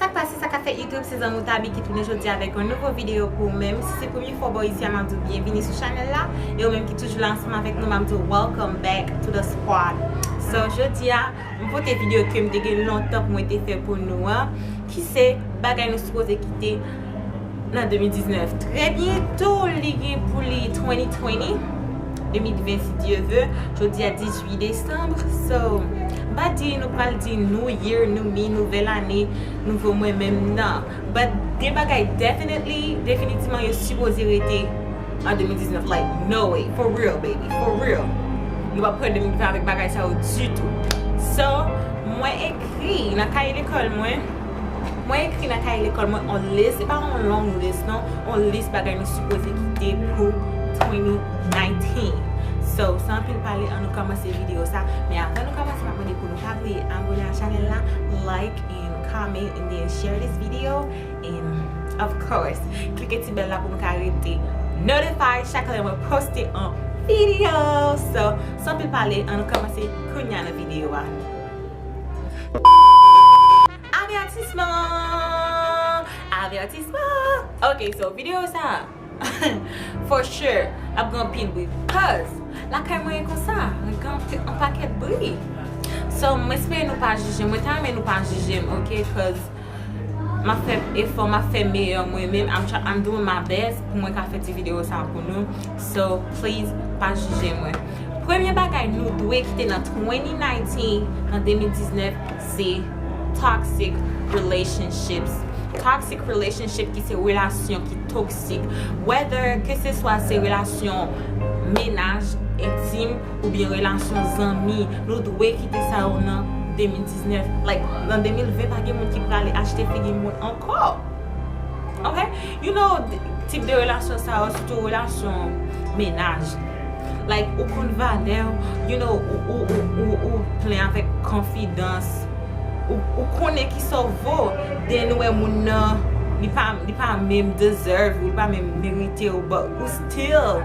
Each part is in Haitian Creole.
Sak pase sa ka fè YouTube se zanmiw Thaby ki tounen jodi a avèk yon nouvo video pou ou menm si se premye fwa ou bò isi a map diw byenvini sou chanèl la e ou menm ki toujou la ansanm avèk nou map diw welcome back to the squad so jodi a m pote video kem te gen lontan pou mwen te fè pou nou an ki se bagay nou sipoze kite nan 2019 trè byento li gen pou li 2020 2020 si Dye ve jodi a 18 desanm so mpa di nou pral di new year new me nouvèl ane nouvo mwen menm nan but gen bagay definitely definitivman yo sipoze rete an 2019 like no way for real baby for real nou pap pran 2020 avèk bagay sa yo ditou so mwen ekri nan kaye lekòl mwen. Mwen ekri nan kaye lekòl mwen on lis, se pa on long lis non, on lis bagay nou sipoze kite pou 2019. So, san anpil pale an nou kòmanse videyo sa, men avan nou kòmanse map mande pou nou pa bliye abone a chanèl la, like and comment and then share this video and of course klike ti bèl la pou nou ka rete notified chak lè mwen poste on videyo. So, san anpil pale an nou kòmanse kounya nan videyo a. Avètisman! Avètisman! Ok so video sa for sure ap gen anpil bri cuz lakay mwen e konsa li gen anpil bri so m espere nou pa jije m. Mwen ta renmen nou pa jije m ok cuz. Map fè efò, map fè meyè mwen menm, I'm doing my best pou mwen ka fè ti video sa pou nou, so please pa jije mwen. Premye bagay nou dwe kite nan 2019, nan 2019 se toxic relationships. Toxic relationships ki se relasyon ki toksik. Whether ke se swa se relasyon menaj, entim, Oubyen relasyon zanmi nou dwe kite sa yo nan 2019 like nan 2020 pa gen moun ki prale achte figi moun ankò ok you know tip de relasyon sa yo sitou relasyon mennaj like ou konn valèw you know ou plen avèk konfidans ou konnen kisa ou vo then ou wè moun nan li pa menm deserve ou li pa menm meritew but ou still.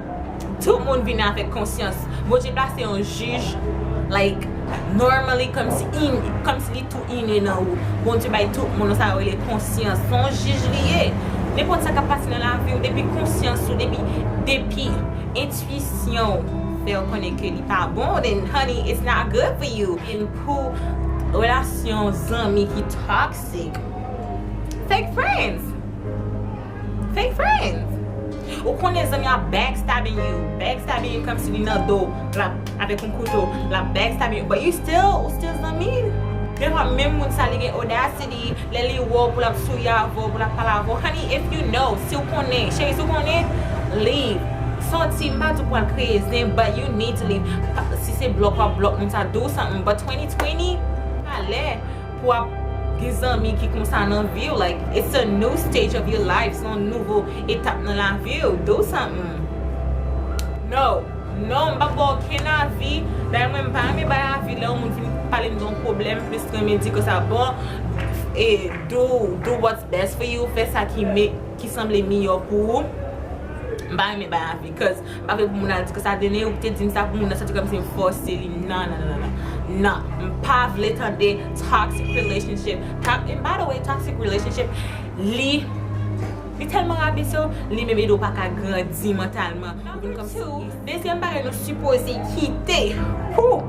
Tout moun vin avèk konsyans. Bondye plase yon jij like normally kòmsi in kòmsi li tou ine nan ou. Bondye bay tout moun sa yo rele konsyans. Se yon jij li ye. Nenpòt sa k ap pase nan lavi w depi konsyans ou depi depi entwisyon w fè w konnen ke li pa bon then honey it's not good for you. And pou relasyon zanmi ki toxic fake friends. Fake friends! Ou konnen zanmi ap backstabbing you, backstabbing you kòmsi li nan do'w, lap avèk yon kouto, lap backstabbing you, but you still, ou still zanmi l. Dè fwa menm moun sa li gen audacity, lè li wè w pou lap souri avè w, pou lap pale avè w, honey if you know, si w konnen, cheri si w konnen, leave. Son ti, m pa di w pou w al kreye zen, but you need to leave. Si se block wap block moun sa, do something, but 2020, pa lè. Pou ap gen zanmi ki konsa nan viw like it's a new stage of your life se yon nouvo etap nan laviw do something no no m pap baw okenn avi dayè mwen m pa renmen bay avi lè yon moun fin palem de yon pwoblèm m plis renmen di ke sa bon e do do what's best for you fè sa ki sanble miyò pou ou m pa renmen bay avi cuz Pa vle pou moun al di ke sa vini ou ki te dim sa pou moun nan santi kòmsi yo fòse li nan nan nan nan m pa vle tande toxic relationship kap and by the way toxic relationship li li tèlman rabese w li menm ede w pa ka grandi mantalman Number 2 dezyèm bagay nou sipoze kite pou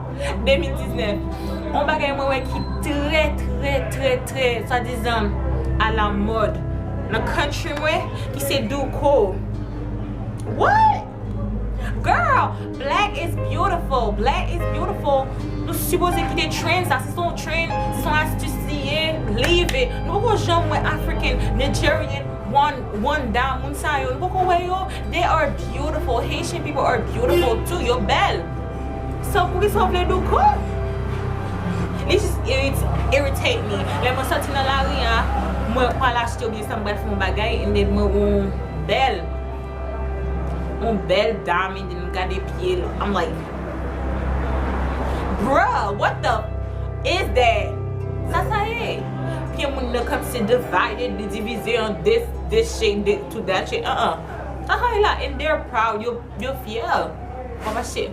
2019 on bagay mwen wè ki trè trè trè trè swadizan a la mòd nan country mwen ki se douko What? Girl, black is beautiful, black is beautiful Nou sipoze kite trend sa, se son trend, se son astuce li ye, leave it Nou poko janm wè African, Nigerian, Rwanda, moun sa yo, nou poko wè yo They are beautiful, Haitian people are beautiful too, yo bèl So poukisa ou vle nou kò? Li just irritate me Lè mwen soti nan lari a, mwen pral achte oubyen sa mwen pral fè yon bagay and then mwen wè yon bèl Yon bèl dam and then m gade pye l I'm like Bruh what the f is that Sa sa ye? Pye moun nan kòmsi divided li divize an de this shape de to that shape uh uh Sa sa ye la and they're proud yo fyè Wap mache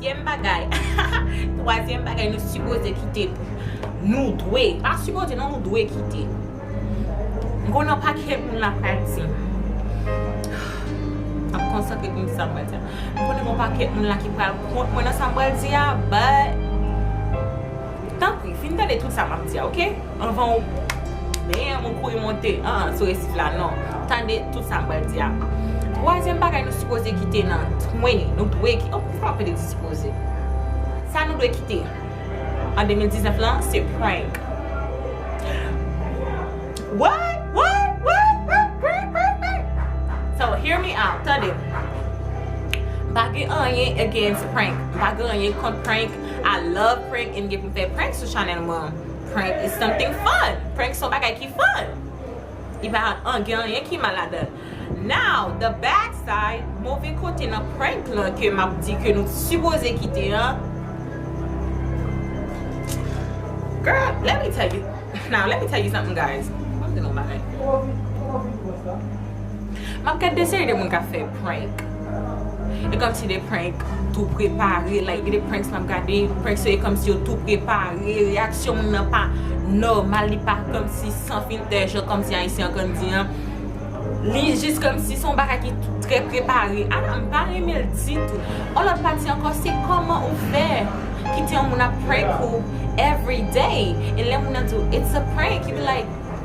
Zyèm bagay, twazyèm bagay nou sipoze kite pou, nou dwe, pa sipoze non nou dwe kite. M konnen yon pakèt moun la pral di m, m ap konsantre pou m di sa m pral di a, m konnen gen yon pakèt moun la ki pral kont mwen nan sa m pral di a but, tanpri fin tande tout sa m ap di a ok. Anvan ou bam ou kouri monte aah sou resif la non. Tande tout sa m pral di a. Twazyèm bagay nou sipoze kite nan 20 nou dwe kite oh poukisa w ap pale de sipoze? Sa nou dwe kite an 2019 lan se prank. What? What? What? What? Prank? Prank? Prank? So hear me out, tande. M pa gen anyen against prank. M pa gen anyen kont prank. I love prank e m gen pou m fè prank sou chanèl mwen an. Prank is something fun! Prank son bagay ki fun! Li pa an gen anyen ki mal ladanl. Now, the bad side, move kote nan prank lan ke map di ke nou t sipoze kite an, Girl, let me tell you, now let me tell you something guys, map di nou yon bagay. Map gad de seri de moun kap fè prank E kòmsi de prank tou prepare like Gen de pranks map gade Prank se kòmsi yo tou prepare Reyaksyon moun nan pa nòmal Li pa kòmsi san filtè Jan kòmsi ayisyen an konn di an Li jis kòmsi son bagay ki trè prepare A la mpa renmen l ditou On lòt pati ankò se kòman ou fè Kite yon moun ap prank ou everyday E lè moun nan di w it's a prank You be like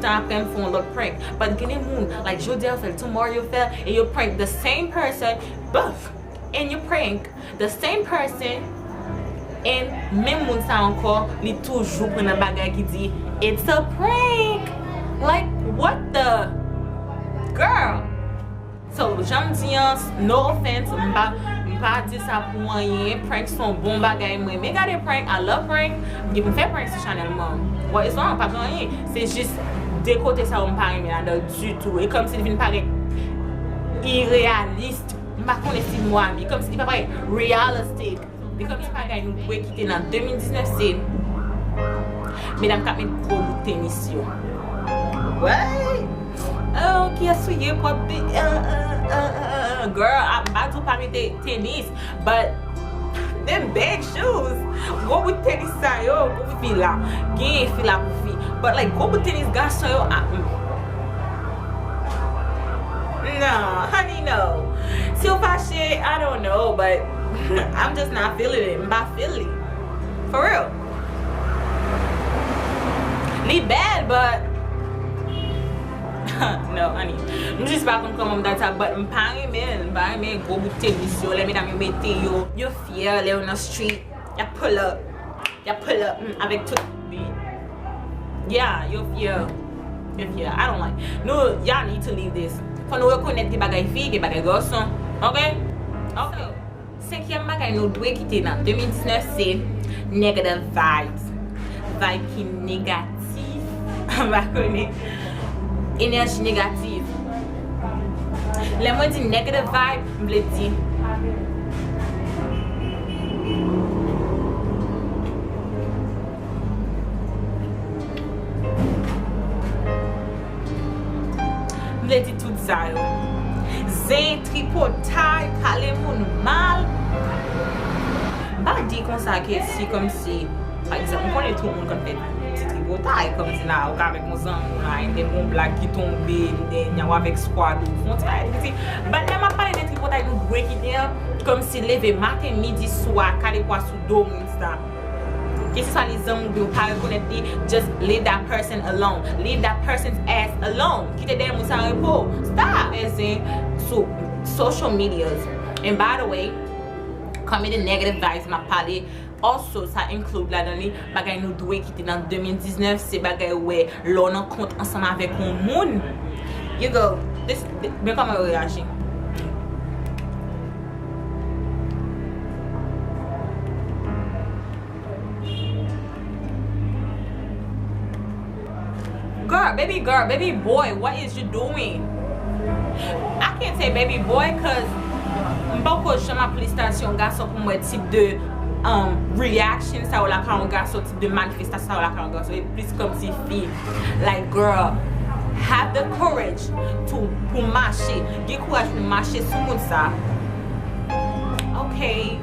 Tan aprè m fè yon lòt prank but gen de moun like jodi a yo fèl tomorrow yo fèl e yo prank the same person both and yo prank the same person and menm moun sa ankò li toujou pran nan bagay ki di it's a prank like what the girl. So janm di an no offense m pa m pa di sa pou anyen prank se yon bon bagay m renmen gade prank I love prank m fè prank sou chanèl mwen bon istwa an pa gen anyen se jis de kote sa yo m pa renmen ladan l ditou e kòmsi li vin parèt ireyalist m pa konnen si mo a byen kòmsi li pa parèt realistic. Pi premye bagay nou dwe kite nan 2019 se medam kap met gwo bout tenis yo. Woyy oh kiyes ou ye pou ap di uh uh uh girl ah m pa di w pa mete tenis but them big shoes gwo bout tenis sa yo gwo bout fi la gen fi la pou fi but like gwo bout tenis gason yo ah uh nan honey no si w fache I don't know but. I'm just not feeling it, m pa feel li For real Li bèl but No honey M jis pa konn kòman m ta di sa but m pa renmen l M pa renmen gwo bout tenis yo lè medam yo mete yo Yo fyè lè yo nan street Yap pull up Yap pull up Humm avèk tout beat Yeah yo fyè Yo fyè I don't like Nou y'all need to leave this Fò nou rekonèt gen bagay fi gen bagay gason Ok Ok Senkyèm bagay nou dwe kite nan 2019 se Negative vibes Vibe ki negatif. Ki anba kole enèji negativ. Lè mwen di negative vibe, m vle di. M vle di tout sa yo. Zen, tripotay, pale moun mal. M pa di konsa ke si kòmsi. Pa egzanp, m konnen tout moun k ap fè ti tripotay, kòm si la ou ka avèk yon zanmi w la, enben gon blag ki tonbe, enben w avèk skwad ou, fon ti bagay piti. Bat lè m ap pale de tripotay nou dwe kite an, kòm si leve maten, midi, swa, kale pwa sou do moun sa. Ke se swa li zanmi w oubyen ou pa rekonèt li, just leave that person alone. Leave that person's ass alone. Kite dèyè moun sa an repo. Stop! Fè zen sou social medias. And by the way, kòm e de negative vibes m ap pale, Also sa include ladan li bagay nou dwe kite nan 2019 se bagay ou wè lè w nan kont ansanm avèk yon moun you go this men kòman yo reyaji. Girl baby girl baby boy what is you doing I can't say baby boy cuz m poko janm ap felisitasyon yon gason pou m wè tip de reaction sa yo lakay yon gason tip de manifestasyon sa yo lakay yon gason e plis kòmsi fi like girl have the courage to pou mache gen kouraj pou mache sou moun sa ok.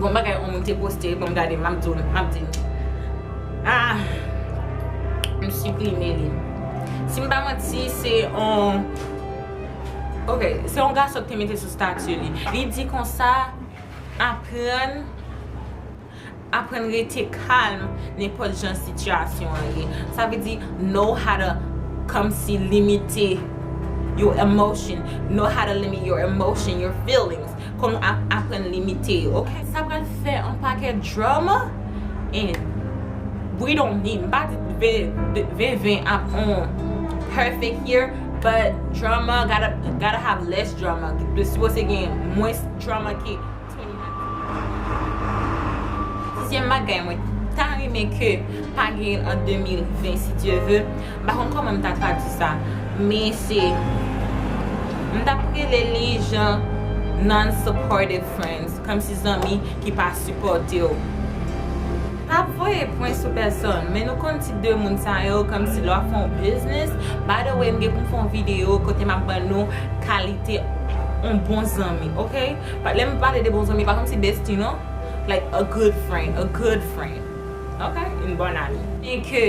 Gon bagay on moun te poste wi banm gade map diw map di nou aah m siprime li sim pa manti se on ok se on gason ki te mete sou statut li li di konsa aprann Aprann rete kalm nenpòt jan sitiyasyon an ye. Sa vle di know how to kòmsi limite your emotion, know how to limit your emotion, your feelings. Kòman ap aprann limite yo ok. Sa pral fè yon pakèt drama and we don't need. M pa di 2020 ap on perfect year but drama gotta have less drama. Li sipoze gen mwens drama ke. Sizyèm bagay mwen ta renmen ke pa genyen an 2020 si Dye ve, m pa konn kòman m ta tradui sa men se m ta rele li jan non supportive friends kòmsi zanmi ki pa sipòte w pa ap voye pwen sou pèsòn men nou konn tip de moun sa yo kòmsi lè w ap fè yon biznis by the way m gen pou m fè yon videyo kote m ap ban nou kalite yon bon zanmi ok. Lè m pale de bon zanmi, pa kòmsi bestie non, like a good friend, a good friend, ok, une bonne amie. E ke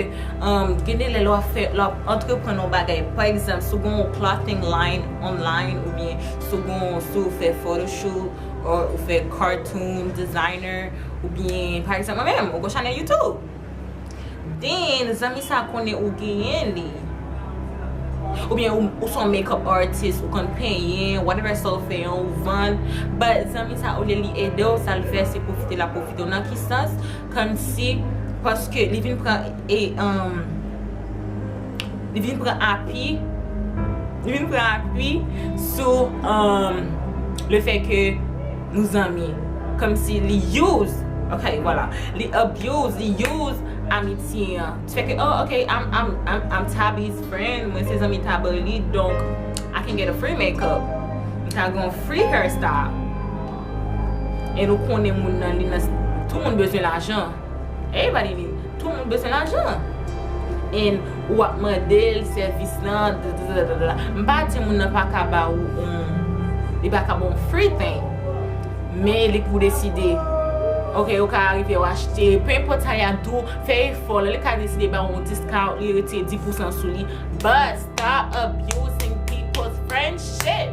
gen de lè lè w ap fè, lè w ap antreprann yon bagay, pa egzanp, si w gen yon clothing line online oubyen si w gen yon, si w fè photoshoot or ou fè cartoon designer oubyen pa egzanp mwen menm, mwen gen yon chanèl YouTube. Then zanmi sa konnen ou genyen li Ou byen ou son makeup artist ou konn penyen whatever sa ou fè an ou vann but zanmi sa olye li edew sal fè se pwofite lap pwofitew nan ki sans kòmsi paske li vin pran e umm li vin pran api li vin pran api sou umm le fè ke Nou zanmi. Kòmsi li use. Ok voilà. Li abuse, li use amitye an. Ti fè ke oh ok I'm Taby's friend. Mwen se zanmi Taby li. Donk I can get a free makeup. M ka gen yon free hairstyle. E nou konnen moun nan li nan. Tout moun bezwen lajan. Everybody need tout moun bezwen lajan and ou wap mandel sèvis lan dadadadada m pa di moun nan paka ba ou on li paka ba w free thing men li pou w deside ok ou ka arive w achte pe enpòt sa yap di w fè efò li ka deside ba w on discount li retire 10 pousan sou li but stop abusing people's friendship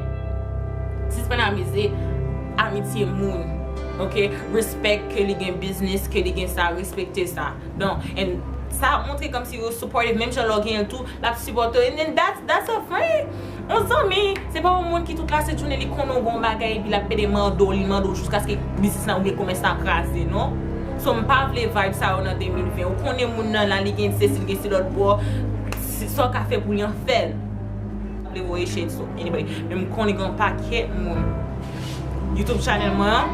sispann abize amitye moun. Ok respect ke li gen business ke li gen sa respekte sa don and sa ap montre komsi yo supportive menm jan lè w genyen l tou l ap sipòte w and then that's that's a friend yon zanmi se pa yon moun ki tout lase jounen li konnen w gen yon bagay epi l ap pede mande w li mande w jiskaske biznis la oubyen komès la kraze non so m pa vle vibe sa yo nan 2020 ou konnen moun nan la li gen sesi li gen si lòt bò sa w ka fè pou li an fè l m pa vle voye shade sou anybody men m konnen gen yon pakèt moun. YouTube channel mwen an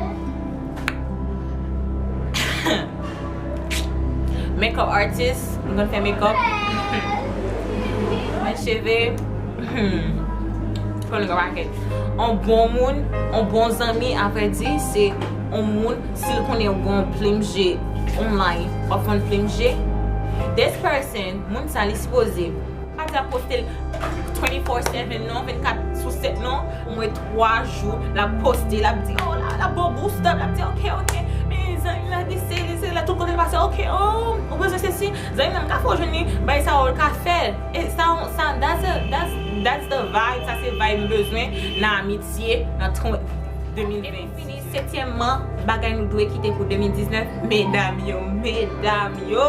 Makeup artist Mwen konn fè makeup Fè cheve Fè yon pakèt Yon bon moun Yon bon zanmi a vrè di se Yon moun si l konnen w gon plim je Online w ap vann plim je This person moun sa li sipoze Pa di ap poste l 24 sou 7 non, 24 sou 7 non. Omwen 3 jou l ap poste, l ap di oh la la bon gou stop, l ap di ok ok men zanmi m la di se li se la tout kote l pase ok oh ou bezwen sesi zanmi m nan m ka fè w jwenn li bay sa yo l ka fè l e sa w sa that's the vibe sa se vibe m bezwen nan amitye nan 2020 setyèmman bagay nou dwe kite pou 2019 medam yo medam yo.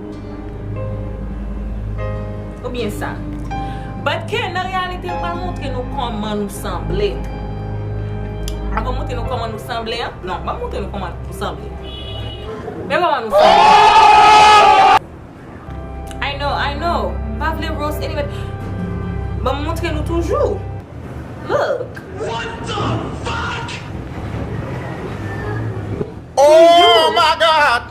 Ou byen sa. But ke nan reyalite pa montre nou koman nou sanble. An pa montre nou koman nou sanble an. Non, pa montre nou koman nou sanble. Men koman nou sanble. I know, I know. Pa vle roast anybody. Ban m montre nou toujou. Look. What the fuck! Toujou. Oh my God!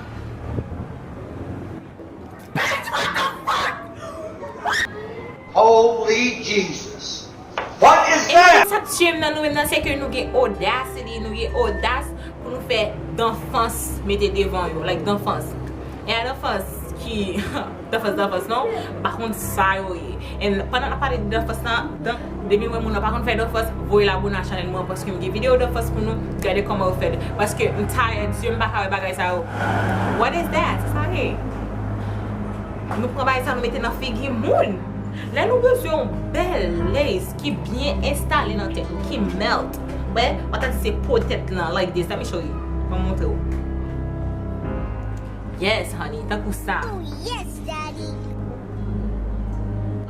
Emisyon sa tiyem nan nou menm nan se ke nou gen audacity nou gen odas pou nou fè danfans mete devan yo like danfans e a danfans ki danfans danfans non m pa konn sa yo ye and pandan nap pale de danfans nan Depiw wè moun nan pa konn fè dòfòs voyel abone a chanèl mwen an paske m gen video dòfòs pou nou gade kòman yo fèl paske m tired yeux m paka wè bagay sa yo what is that sa sa ye nou pran bagay sa nou mete nan figi moun lè nou bezwen yon bèl lace ki byen enstale nan tèt ou ki melt wè wap ta di se po tèt lan like this let me show you banm montre w yes honey tankou sa.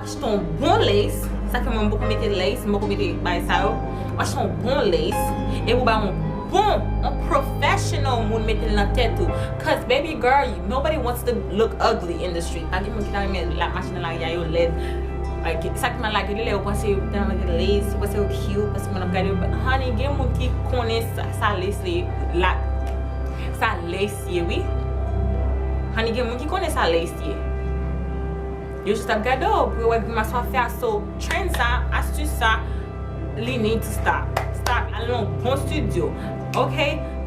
Achete yon bon lace, sa fè mwen m poko mete lace, m poko mete bagay sa yo. Ou achete yon bon lace, epi ou bay yon bon, yon professional moun mete l nan tèt ou. Cause baby girl, nobody wants to look ugly in the street. Pa gen moun ki ta renmen lap mache nan lari a yo lèd. Ok, sa ki mal la gen de lè yo panse yo tèlman mete lace, yo panse yo cute, paske moun ap gade yo. But honey, gen moun ki konnen sa lace li, sa lace ye wi. Honey, gen moun ki konnen sa lace. ye. Yo jis ap gade w pou yo wè grimas wap fè a so trend sa, astuce sa li need to stop. Stop, al nan yon bon studio ok,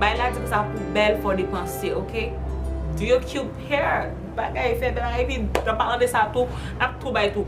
bay la di konsa pou bèl fò depanse ok. Do your cute hair, bagay fè bèl epi nan palan de sa tou nap tou bay tou.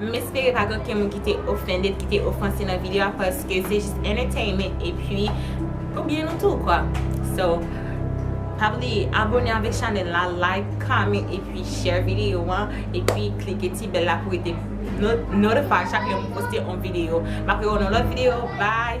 M espere pa gen oken moun ki te offended, ki te ofanse nan video a paske se jis entertainment epi pou byen nou tou kwa. So, pa bliye abone avèk chanèl la, like, comment epi share video an epi klike ti bèl la pou rete notify chak lè m poste yon video. M ap wè w nan lòt video, bye!